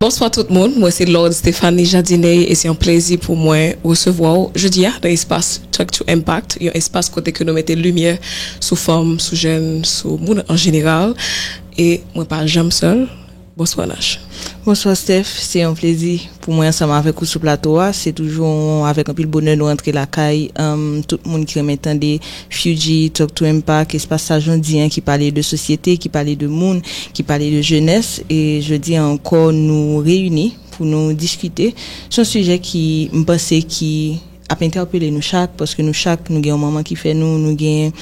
Bonswa tout moun, mwen se Lord Stéphanie Jadiney e se yon plezi pou mwen resevwa w jodi a nan espas Talk to Impact, yon espas kote ke nou mete limyè sou fanm, sou jèn, sou moun an jeneral e mwen pa janm sèl. Bonswa Nach. Bonswa Steph, se yon plezi pou mwen ansanm avèk ou sou plato a, se toujou avèk anpil bonè nou rantre lakay tout moun ki renmen tande Fuji, Talk to Impact, espas sa jan w di an ki pale de sosyete, ki pale de moun, ki pale de jenès e jodi an ankò nou reyini pou nou diskite sou yon sijè ki m panse ki ap entèpele nou chak paske nou chak nou gen yon manman ki fè nou, nou gen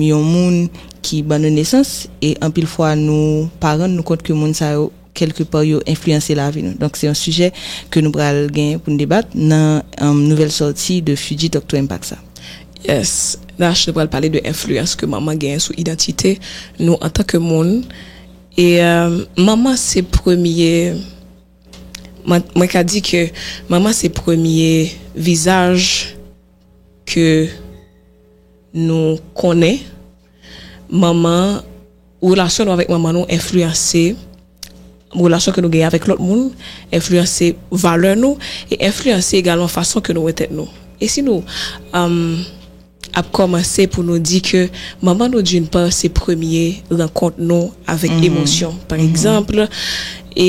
yon moun ki ban nou nesans e anpil fwa nou pa rann nou kont ke moun sa yo. kèlke pa yo enfliyanse lavi nou. Donk se yon sijè ke nou pral gen pou n debat nan nouvèl sòti de Fiji Doctor Impact sa. Yes, Nash nou pral pale de enfliyans ke manman genyen sou idantite nou antan ke moun e manman se premye mwen ka di ke manman se premye vizaj ke nou konnen manman, relasyon nou avèk manman nou enfliyanse relasyon ke nou genyen avèk lòt moun, enfliyanse valè nou, e enfliyanse egalman fason ke nou wè tèt nou. E si nou ap kòmanse pou nou di ke manman nou d'une part se premye rankont nou avèk emosyon, pa egzanpl, e.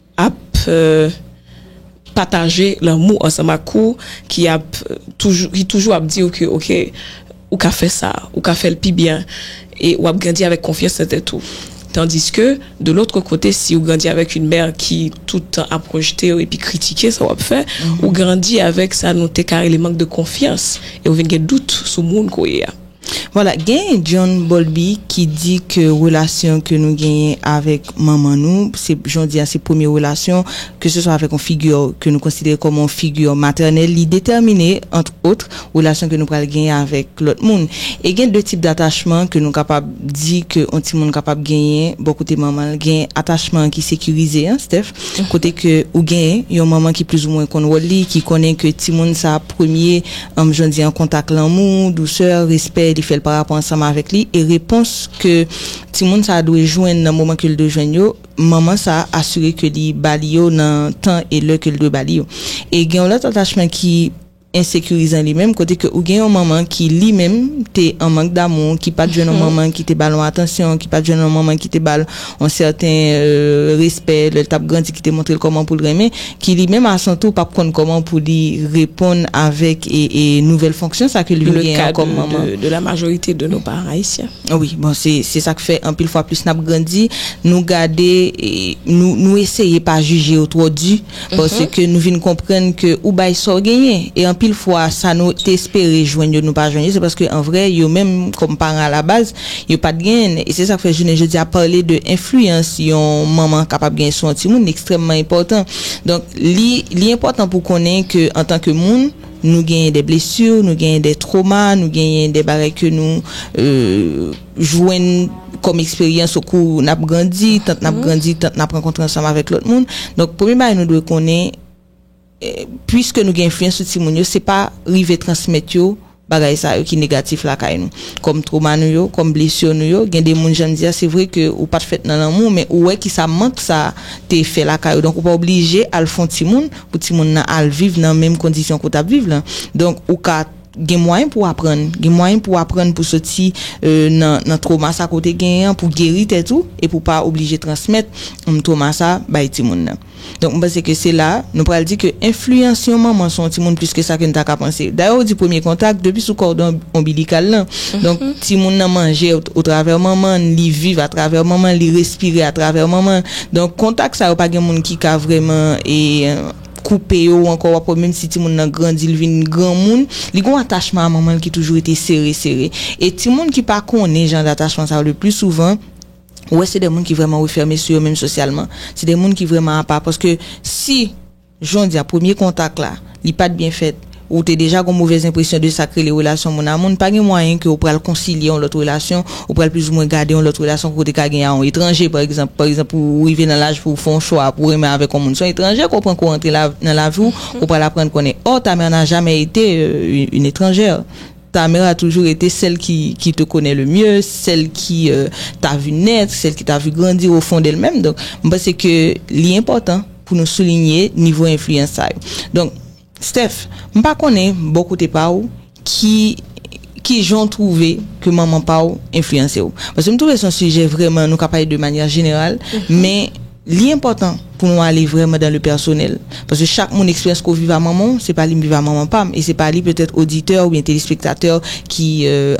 ap pataje lanmou ansanm ak ou, ki ap toujou ki toujou ap di ou ke ok ou ka fè sa, ou ka fè l pi byen e wap grandi avèk konfyans nan tèt ou. Tandiske de lotre kote si ou grandi avèk yn mè ki tout tan ap rejete w epi kritike sa wap fè, ou grandi avèk sa nou te ka rele mank de konfyans e ou vin gen dout sou moun ke w ye a. Voilà genyen John Bolby ki di ke relasyon ke nou genyen avèk manman nou se jodi a se premye relasyon ke se swa avèk yon figure ke nou konsidere kòm yon figure matènèl li detèmine entre autres relasyon ke nou pral genyen avèk lòt moun e gen 2 tip d'attachement ke nou kapab di ke yon timoun kapab genyen bò kote manman l gen attachement ki sekirize an Steph kote ke ou gen yon manman ki plizoumwen konn wòl li ki konnen ke timoun sa premye m jwenn li an kontak lanmou, dousè, respè li fè l parapò ansanm avèk li e repons ke timoun sa dwe jwenn nan moman ke l dwe jwenn yo, manman sa asire ke li ba li yo nan tan e lè ke l dwe ba li yo. E gen yon lòt atachman ki ensekirizan li menm, kote ke ou gen yon manman ki li menm te an mank damou, ki pa t jwenn yon manman ki te ba l yon atansyon, ki pa t jwenn yon manman ki te ba l. yon sèten respè lè l t ap grandi ki te montre l kòman pou l renmen, ki li menm a son tou p ap konn kòman pou li reponn avèk nouvèl fonksyon sa ke li vin genyen an kòm manman. Dans le cas de la majorité de nos parents haïtiens. Wi, bon se sa k fè anpil fwa plis n ap grandi nou gade nou eseye pa jije yo twò di. Paske nou vin konprann ke ou bay sa w genyen. E anpil fwa sa nou te espere jwenn yo nou pa jwenn yo se paske an vrè yo menm kòm paran alabaz yo pat genyen l. E se sa k fè jounen jodi a pale de enfliyans yon manman kapab genyen sou yon timoun li ekstrèmman enpòtan. Donk li li enpòtan pou w konnen ke antanke moun nou genyen dè blesur, nou genyen dè troma, nou genyen dè bagay ke nou jwenn kòm eksperyans okou n ap grandi, tant n ap grandi, tant n ap rankontre ansanm avèk lòt moun. Donk, premye bagay nou dwe konnen, puiske nou gen enfliyans sou timoun yo, se pa rive transmèt yo bagay sa yo ki negatif lakay nou. Kòm twoma nou yo, kòm blesir nou yo, gen de moun jan n di a, se vre ke ou pa t fèt nan lanmou, men ou wè ki sa mank sa a te fè lakay ou. Donk, ou pa oblije al fè yon timoun pou timoun nan al viv nan menm kondisyon ke w t ap viv lan. Donk, ou ka. Gen mwayen pou w aprann. Gen mwayen pou w aprann pou soti nan twoma sa ke w te genyen an, pou w geri tèt ou e pou w pa oblije transmèt twoma sa bay timoun nan. Donk m panse ke se la nou pral di ke enfliyans yon manman sou yon timoun plis ke sa ke n ta ka panse. Dayè ou di premye kontak depi sou kòdon onbilikal lan. Donk timoun nan manje otravè manman l, li viv atravè manman l, li respire atravè manman l. Donk kontak sa yo pa gen moun ki ka vreman e. koupe yo ou ankò w ap wè menm si timoun nan grandi l vin granmoun, li gen yon atachman a manman l ki toujou rete sere sere. E timoun ki pa konnen jan datachman sa yo leplisouvan ou wè se de moun ki vrèman refèmen sou yo menm sosyalman. Se de moun ki vrèman apa paske si jonndia premye kontak la li pa t byen fèt, ou te deja gon movèz enpresyon de sak rele relasyon moun a moun, pa gen mwayen ke ou pral konsilye yon lòt relasyon, ou pral plizoumwen gade yon lòt relasyon ke ou te ka genyen a yon etranje pa egzanp, pa egzanp pou ou rive nan laj pou ou fè yon chwa pou ou renmen avèk yon moun, se yon etranje ke ou pran ke ou rantre nan lavi ou, ou pral aprann konnen, or ta mère n'a jamais été une étrangère, ta mère a toujou rete sèl ki te konnen le mieux, sèl ki t'a vu naître, sèl ki t'a vu grandir au fond d'elle même, donk mwen panse ke li enpòtan pou nou soulinye nivo enfliyans sa yo. Steph, m pa konnen bò kote pa w ki kijan w twouve ke manman pa w enfliyanse w. Paske m twouve se yon sijè vrèman nou ka pale de manyè jeneral, men li enpòtan pou nou ale vrèman dan le pèsonèl. Paske chak moun eksperyans ke w viv a manman w, se pa li m viv a manman pa m, e se pa li petèt oditè oubyen telespektatè ki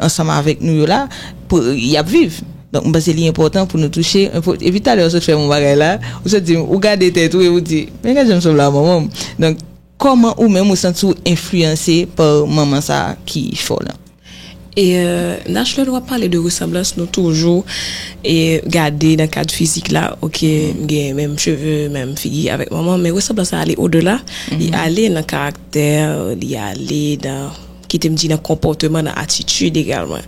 ansanm avèk nou yo la, y ap viv. Donk m panse li enpòtan pou nou touche, epi talè ou sot fè m yon bagay la, ou sot di m ou gade tèt ou epi ou di, men gad jan m sanble a manman m. Donk kòman ou menm ou santi w enfliyanse pa manman sa a ki fè w lan? E Nach lè nou ap pale de resanblans nou toujou e gade nan kad fizik la, ok m gen menm cheve, menm figi avèk manman m, men resanblans sa ale odela, li ale nan karaktè, li ale nan, kite m di nan konpòteman, nan atitid egalman.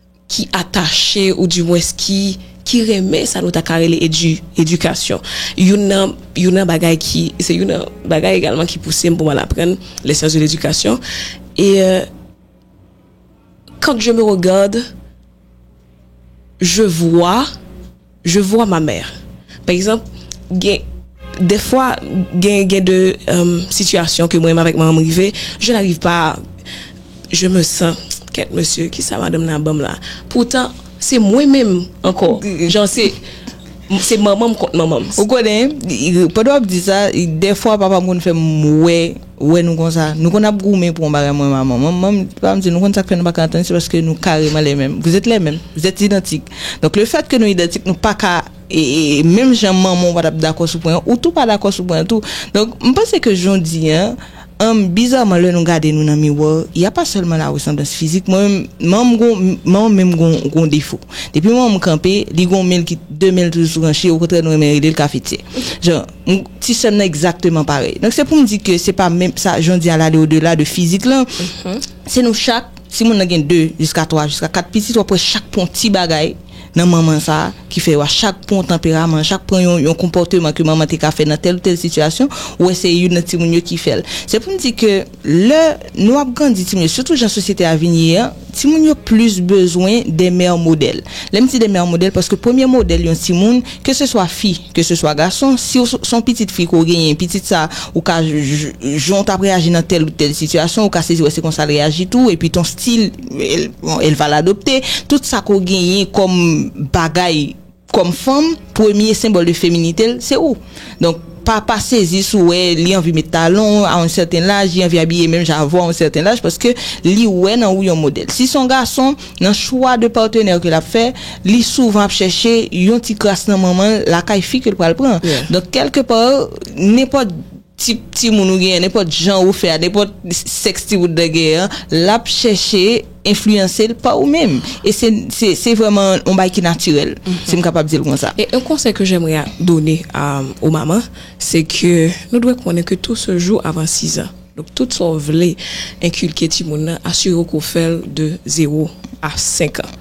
ki atache ou di mwens ki ki renmen sa nou ta ka rele edi edikasyon youn nan youn nan bagay ki se youn nan bagay egalman ki pouse m pou m al aprann les sciences de l'éducation e quand je me regarde je vois Je vois ma mère pa egzanp gen dèfwa gen gen de sitiyasyon ke mwen menm avèk manmanm rive je n'arrive pas a je me sens kèt mesye kisa madanm nan ap banm la poutan se mwen menm ankò jan se se manmanm kont manmanm. Ou konnen pandan wap di sa dèfwa papam konn fèm wè. Ou wè nou konsa, nou konn ap goumen pou yon bagay mwen menm a manman m, manman m papa m di nou konn sa k fè nou pa ka antann se paske nou kareman lè menm, vous êtes les mêmes, vous êtes identiques. Donk le fait que nou idantik nou pa ka menm jan manman w pa t ap dakò sou pwen an, ou tou pa dakò sou pwen an tou. Donk m panse ke jodi an bizarman lè nou gade nou nan miwa y a pa sèlman la resanblans fizik, mwen menm manman m gon manman m menm gon gon defo depi manman m kanpe li gon men l ki de men l toujou sou ranche okontrè nou renmen rele l kafetyè jan M ti sè m nan egzakteman parèy. Donk se pou m di ke se pa menm sa jan w di al ale o dela de fizik lan. Se nou chak, si moun nan gen 2 jiska 3 jiska 4 pitit w ap wè chak pran w ti bagay nan manman sa ki fè yo a chak pran w tanperaman, chak pran yon yon konpòteman ke manman te ka fè nan tèl ou tèl sitiyasyon, ou wè se youn nan timoun yo ki fè l. Se pou m di ke. Lè nou ap grandi timoun yo, sitou jan sosyete a vin ye an, timoun yo plis bezwen de mère modèl. Lè m di de mère modèl, paske premye modèl yon timoun, ke se swa fi, ke se swa gason, si w se yon pitit fi ke w genyen, pitit sa ou ka, jan w t ap reyaji nan tèl ou tèl sitiyasyon, ou ka sezi wè se konsa l reyaji tou, epi ton stil, bon, el va l'adopter, tout sa ke w genyen kòm bagay. Kòm fanm, premye senbòl de feminite l, se ou. Donk, pa pa sezi si w wè li anvi met talon a yon sèten laj, li anvi abiye menm jan avè w a yon sèten laj, paske li wè nan ou yon modèl. Si se yon gason, nan chwa de patenè ke l ap fè, li souvan ap chèche yon ti kras nan manman l lakay fi ke l pral pran. Donk, kèlkepar, nenpòt. Tip timoun ou genyen, nenpòt jan ou fè a, nenpòt sèks timoun nan genyen an, l ap chèche enfliyanse l pa ou menm. E se vrèman yon bagay ki natirèl, si m kapab di l konsa. E yon konsèy ke jèmre done o maman, se ke nou dwe konnen ke tou se jou avan sizan. Donk tout sa ou vle enkilke timoun nan, asire w ke ou fè l de zewo a senkan.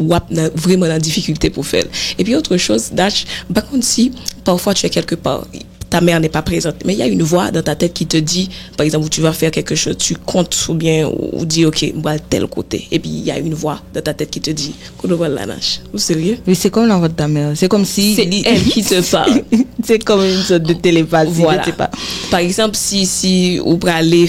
wap nan vreman nan difikilte pou fèl epi otre choz Dach m pa konn si pafwa tu es quelque part ta mère n'est pas présente men ya yn vwa dan ta tèt ki te di pa egzanp ou tu vas faire quelque choz tu kont oubyen ou di ok m pral tèl kote epi ya yn vwa dan ta tèt ki te di kote w pral la Nach ou serye. Wi se kòm la vwa de ta mère se kòm si se èl ki te pale se kòm yn sòt de telepati je ne sais pas pa egzanp si si ou prale.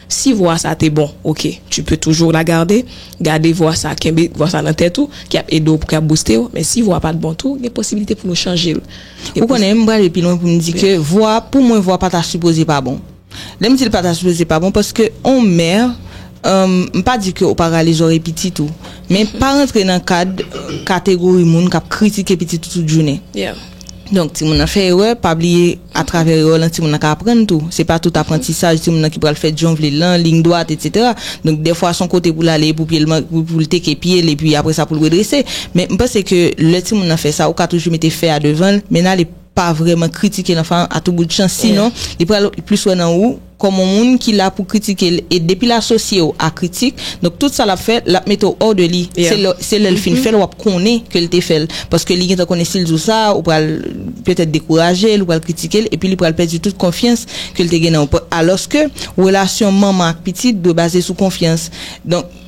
Si vwa sa te bon ok tu peux toujours la garder gade vwa sa kenbe vwa sa nan tèt ou ki ap edew pou ki ap boustew men si vwa pat bon tou gen posibilite pou nou chanjel ou konnen m prale pi lwen pou m di ke vwa pou mwen vwa pa ta sipoze pa bon lèm di l pa ta sipoze pa bon paske on mè m pa di ke ou pa rale zòrèy pitit ou men pa rantre nan kad kategori moun kap kritike pitit ou tout jounen. Donk, timoun nan fè erè, pa bliye atravè erè w lan timoun nan ka aprann tou. Se pa tout aprantisaj timoun nan ki pral fèt jan w vle l lan, liy dwat etsetera. Donk, dèfwa s on kote pou l ale pou pye l man, pou l teke pye l epi apre sa pou l redrese. Men, m panse ke lè timoun nan fè sa, ou ka toujou mete fè a devan l, men ale pa vrèman kritike lanfan an atouboutchan sinon li pral plis wè nan ou, kòm on moun ki la pou kritike l e depi l asosye w a kritik donk tout sa l ap fè l ap mete w hors de li se lè se lè l fin fè l w ap konnen ke l te fè l paske li gentan konnen si l di w sa ou pral petèt dekouraje l ou pral kritike l epi li pral pèdi tout konfyans ke l te gen nan w alòske relasyon manman ak pitit dwe baze sou konfyans donk.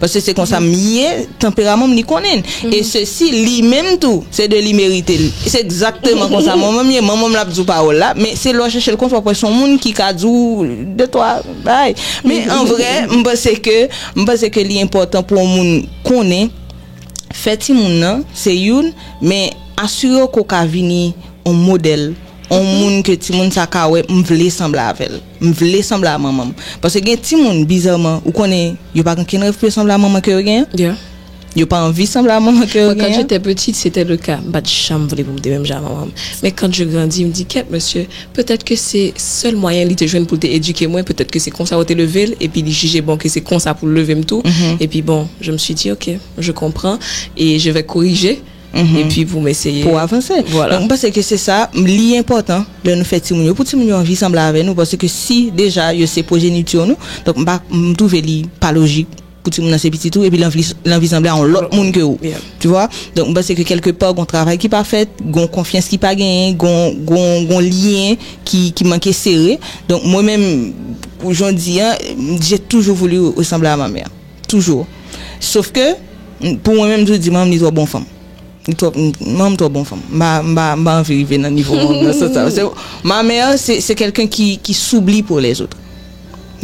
Paske se konsa m ye, tanperaman m li konnen l. E sesi, li menm tou, se de li merite l. Se egzakteman konsa manman m ye. Manman m l ap di w pawòl la, men se lè w chèche l konsa w ap wè se yon moun ki ka di w de twa bagay. Men an vrè, m panse ke, m panse ke li enpòtan pou yon moun konnen, fè timoun nan, se youn, men asire w ke w ka vini yon modèl, yon moun ke timoun sa ka wè m vle sanble avè l. M vle sanble a manman m. Paske gen timoun bizaman ou konnen yo pa gen okenn rèv pou yo sanble a manman ke yo gen an. Yo pa anvi sanble a manman ke yo gen an. Mwen kan jete petite se te le ka. M pa t janm vle pou m te menm jan a manman m. Men kan je grandi m di kèt mesye petèt ke se sèl mwayen li te jwenn pou l te edike mwen, petèt ke se konsa yo te leve l epi li jije bon ke se konsa pou l leve m tou. Epi bon je me suis dit ok je comprends et je vais corriger. epi pou m eseye pou avanse. Donk m panse ke se sa, li enpòtan lè nou fè timoun yo, pou timoun yo anvi sanble avè nou, paske ke si deja yo se pwojenityon nou, donk m pa, m twouve li pa lojik pou timoun nan se pitit ou epi l anvi, l anvi sanble a yon lòt moun ke ou, tu vwa. Donk m panse ke kèlke pa gon travay ki pa fèt, gon konfyans ki pa genyen, gon, gon, gon lyen ki, ki manke sere. Donk mwen menm, pou jan w di an, j'ai toujours voulu ressembler à ma mère. Toujou. Sof ke, pou mwen menm m toujou di manm li twò bon fanm. Li twò, manm twò bon fanm. M pa, m pa, m pa anvi rive nan nivo manm nan sans sa. Paske ma mère se, se kèlken ki, ki s'oublie pour les autres.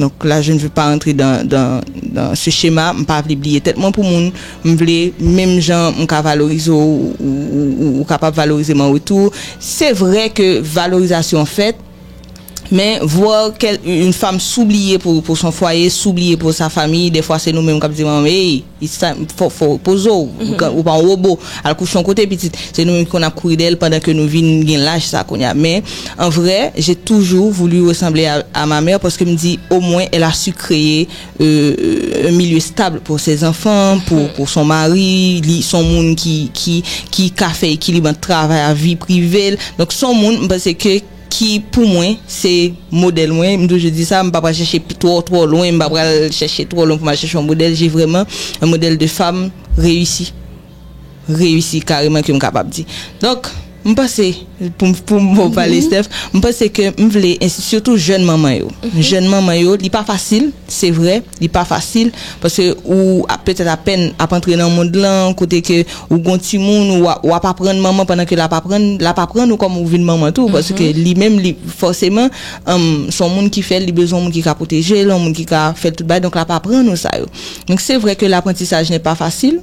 Donk la je ne veux pas entrer dans, dans, dans ce schéma. M pa vle bliye tèt mwen pou moun. M vle menm jan m ka valorize w, ou, ou, ou kapab valorize m an retou. Se vre ke valorizasyon an fèt. Men, voir quel une femme sou bliye pou pou son foyer, sou bliye pou sa famille, dè fwa se nou menm k'ap di manman ey, it's time, fò fò repoze w, ou pa yon robo, al kouche yon kote pitit, se nou menm ki konn ap kouri dèyè l pandan ke nou vin gen laj sa kounye a. Men, en vrai, j'ai toujours voulu ressembler à ma mère paske m di, au moins, elle a su créer yon milye stab pou se zanfan, pou son mari, li son moun ki ka fè ekilib ant travay a vi prive l, donk son moun m panse ke ki pou mwen se modèl mwen, m toujou di sa m pa pral chèche twò twò lwen, m pa pral chèche twò lwen pou m al chèche yon modèl, je vreman yon modèl de fam reyisi. reyisi kareman ke m kapab di. Donk, m panse, pou m pale Steph, m panse ke m vle, sitou jèn manman yo, jèn manman yo, li pa fasil, se vre, li pa fasil, paske ou petèt apèn ap antre nan mond lan, kote ke ou gon timoun, ou ap aprann manman pandan ke l ap aprann, l ap aprann ou kòman ou vin manman tou, paske li menm, li, fòseman, se yon moun ki fè l, li bezwen yon moun ki ka pwoteje l, yon moun ki ka fè l tout bagay, donk l ap aprann ou sa yo. Donk se vre ke laprantisaj nè pa fasil.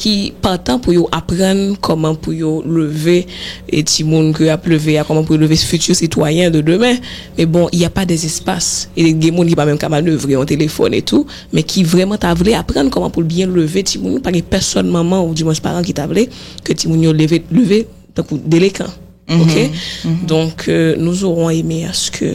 ki patan pou yo aprann kòman pou yo leve timoun ke yap leve a, kòman pou yo leve futur citoyen de demain, men bon il ya pa des espas e gen moun ki pa menm ka manevre yon telefòn e tou, men ki vrèman ta vle aprann kòman poul byen leve timoun yo, pa gen pèsòn manman ou di mwens paran ki ta vle ke timoun yo leve leve tankou delekan ok, donk nous aurons aimé à ce que.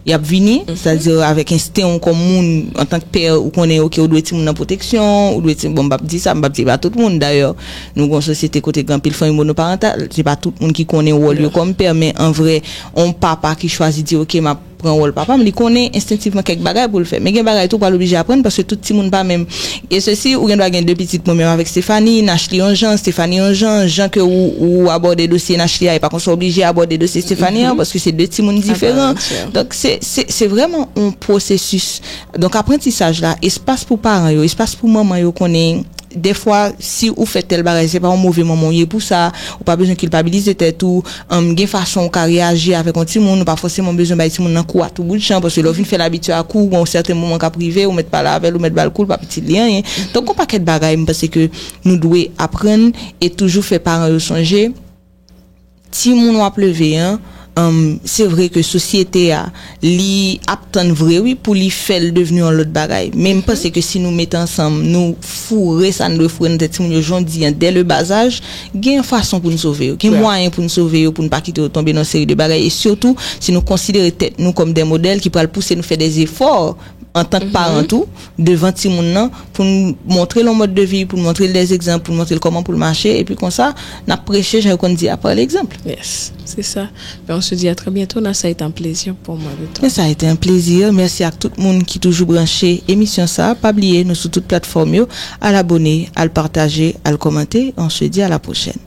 Y ap vini, sètadi avèk ensten ou kòm moun, antank pè, ou konnen ok ou dwe timoun nan pwoteksyon, ou dwe ti, bon m pa p di sa, m pa p di e pa tout moun dayè, nou gen yon sosyete kote gen anpil fanmi monoparantal, se pa tout moun ki konnen wòl yo kòm pè, men an vrè yon papa ki chwazi di ok m ap pran wòl papa m, li konnen enstentivman kèk bagay pou l fè, men gen bagay tou ou pral oblije aprann paske tout timoun pa menm. E sesi, ou gen dwa gen 2 pitit mwen menm avèk Stéphanie, Nash li yon jan, Stéphanie yon jan, jan ke ou ou abòde dosye Nash li a e pa konsa w oblije abòde dosye Stéphanie an paske se 2 timoun diferan. Donk se se se vrèman yon pwosesis. Donk aprantisaj la, espas pou paran yo, espas pou manman yo konnen dèfwa si ou fè tèl bagay se pa yon move manman ou ye pou sa, ou pa bezwen kilpabilize tèt ou, Humm gen fason ou ka reyaji avèk yon timoun ou pa fòseman bezwen bay timoun nan kou a tou bout chan paske lè ou fin fèl abitye a kou gen yon sèten moman kap rive ou mèt pale avèl ou mèt bal kou l pap itil li anyen donk gon pakèt bagay m panse ke nou dwe aprann e toujou fè paran yo sonje timoun wap leve an humm se vre ke sosyete a Li ap tann vre wi pou li fèl devni yon lòt bagay. Men m panse ke si nou met ansanm, nou foure sa n dwe foure nan tèt timoun yo jodi an, dè le bas aj, gen yon fason pou n sove yo. Gen mwayen pou n sove yo, pou n pa kite yo tonbe nan yon seri de bagay e sitou si nou konsidere tèt nou kòm dè modèl ki pral pouse nou fè dè efò an tank mhm. paran tou, devan ti moun nan, pou n montre l an mòd de vi, pou n montre l des egzanp, pou n montre l kòman pou l mache, epi konsa, n ap preche, jan yo kon di, apre l egzanp. Yes, se sa. Ben, on se di a trè bientou, nan sa ete an plezi pou mwen de ton. Nan sa ete an plezi, mèsi ak tout moun ki toujou branche emisyon sa, pa bliye nou sou tout platfòm yo, al abone, al pataje, al kòmante, on se di a la pwochèn.